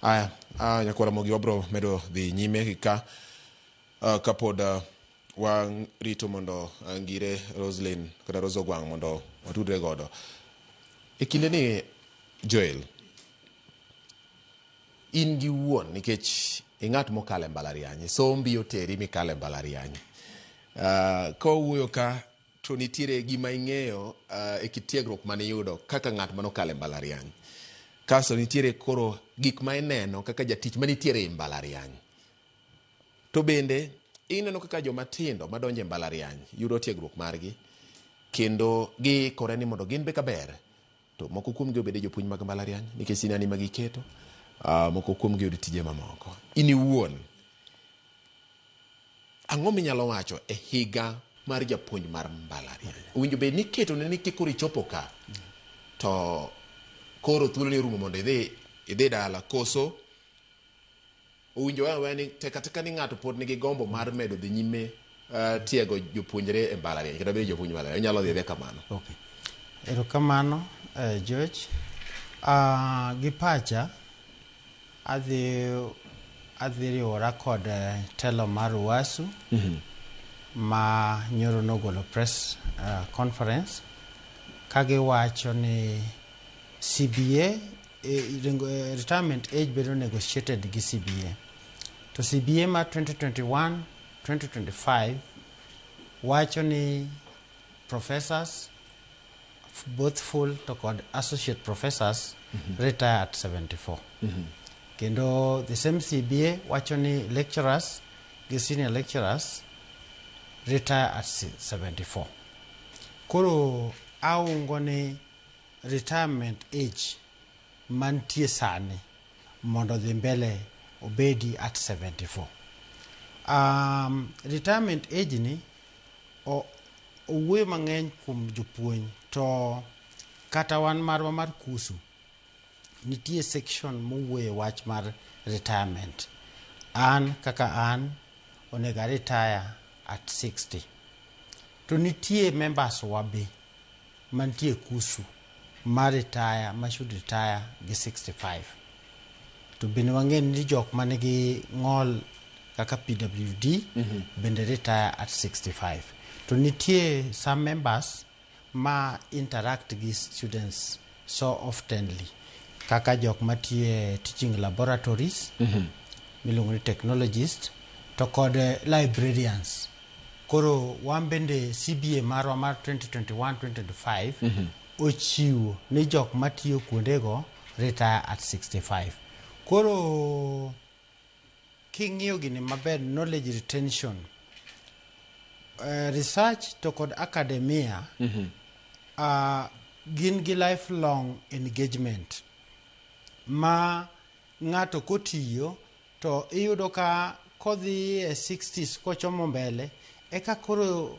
Aya, a nyakwara mogi wabro medo dhi nyime gi ka ah, kapod ah, warito mondo ah, ngire Roslyn kata Rose Ogwang mondo watudre godo. E kinde ni Joel, in gi wuon nikech ing'at mokalo e mbalariany, sombi oteri mikalo e mbalariany. Ah, ka wawuoyo ka To nitiere gima ing'eyo uh, e kit tiegruok mane iyudo kaka ng'at mane okalo e mbalariany. Kaso nitiere koro gik ma ineno kaka jatich manitiere e mbalariany. To bende ineno kaka joma tindo madonjo e mbalariany yudo tiegruok margi kendo giikore ni mondo gin be kaber To moko kuomgi obed jopuonj mag mbalariany nikech sinani ma giketo, ah, moko kuomgi oyud tije mamoko. In iwuon, ang'o minyalo wacho e higa mar japuonj mar mbalariany? Owinjo bed ni iketo ne ni kikoro ichopo ka, to koro thuoloni orumo mondo idhi idhi dala, koso Owinjore aweya ni tek atek ni ng'ato pod nigi gombo mar medo dhi nyime uh, tiego jopuonjre e mbalariany kata bedo jopuonj mbalariany onyalo dhi adhiya kamano. Okay. Erokamano eh, George. Uh, gi pacha adhi adhi riwora kod eh, telo mar Uwasu mm -hmm. ma nyoro nogolo press uh, conference kagiwacho ni CBA E, e, retirement age bedo negotiated gi CBA to CBA ma 2021 2025 wacho ni professors both full to kod associate professors mm -hmm. retire at 74 mm -hmm. kendo the same CBA wacho ni lecturers gi senior lecturers retire at 74 koro aungo ni retirement age mantie sani mondo odhi mbele obedi at 74 um, retirement age ni owuoyo mang'eny kuom jopuonj to kata wan marwa mar kusu nitie section mowuoye wach mar retirement an kaka an onego aretire at 60 to nitie members wa be mantie kusu ma retire ma should retire gi 65 to bende wang'e ni jok ma nigi ng'ol kaka pwd mm -hmm. bende retire at 65 to nitie some members ma interact gi students so oftenly kaka jok matiyo e teaching laboratories miluongo ni technologist to kod eh, librarians koro wan bende cba marwa mar 2021-2025 ochiwo ni jok matiyo kuondego retire at 65 koro King'iyo gini maber, knowledge retention, uh, research to kod academia mm -hmm. uh, gin gi lifelong engagement ma ng'ato kotiyo to iyudo ka kodhi e 60s kochomo mbele eka koro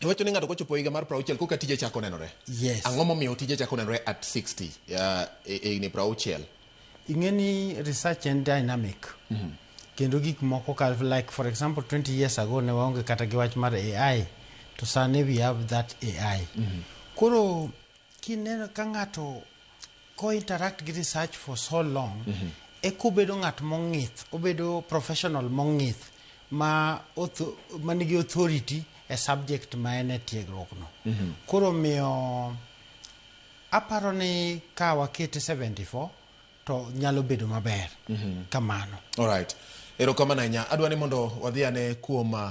Iwacho ni ng'ato kochopo higa mar 60 koka tije chako nenore. Yes. Ang'o momiyo tije chako nenore at 60 uh, e e higni 60? ing'e ni research en dynamic kendo gik moko ka like for example 20 years ago ne waonge kata gi wach mar ai to sani we have that ai koro kineno ka ng'ato ko interact gi research for so long mm -hmm. eka obedo ng'at mong'ith obedo professional mong'ith ma manigi authority e subject ma en e tiegruokno mm -hmm. koro miyo aparo ni ka wakete 74 to nyalo bedo maber mm -hmm. kamano alright erokamano ahinya adwa ni mondo wadhi ane kuom uh,